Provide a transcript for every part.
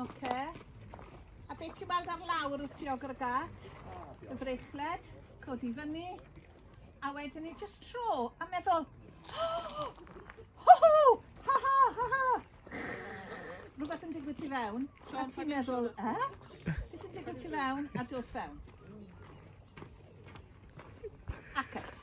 Oce. A be ti'n weld ar lawr wrth ti o gyrgat? Y frechled, codi fyny. A wedyn ni just tro a meddwl, oh, ho ho, ha ha, ha ha. Rhywbeth yn digwydd ti fewn, a ti'n meddwl, eh? Beth sy'n digwydd ti fewn a dos fewn? Acat.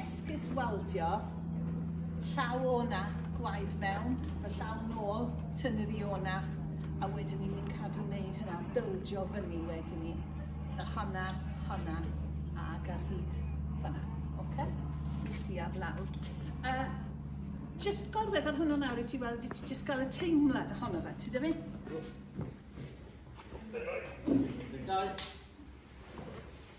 Esgus weldio llaw o na, gwaed mewn, y llaw nôl, tynnu ddi o na, a wedyn ni ni'n cadw wneud hynna, bildio fyny wedyn ni. A honna, honna, ag ar hyd fanna. Oce? I'ch di ar lawr. A just gorwedd ar hwnna nawr i ti weld, i ti just gael y teimlad ohono fe, ti dyfu? Dau.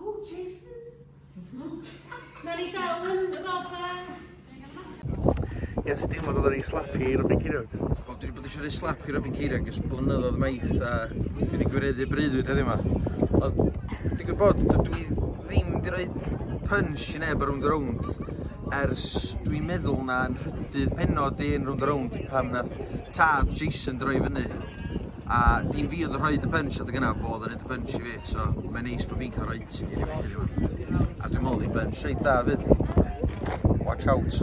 O, Jason. Nawn ni gael yn Ie, sut deimlo oedd o'n slapu i Robin Ceiriog? Wel, dwi wedi bod eisiau gwneud slap i Robin Ceiriog ys blynyddoedd maith a dwi wedi gwireddu breuddwyd heddiw yma. Ond, digwydd bod, dwi ddim wedi rhoi punch i neb ar rownd y rownd ers dwi'n meddwl na'n rhydydd penod i'n rownd y rownd pan nath tad Jason droi fyny. A dim fi oedd yn rhoid y punch adeg yna, fo oedd yn rhoid y punch i fi, so mae'n neis bod fi'n cael rhoid i rywun heddiw. A dwi'n meddwl oedd hi'n punch reit da fyd. Watch out.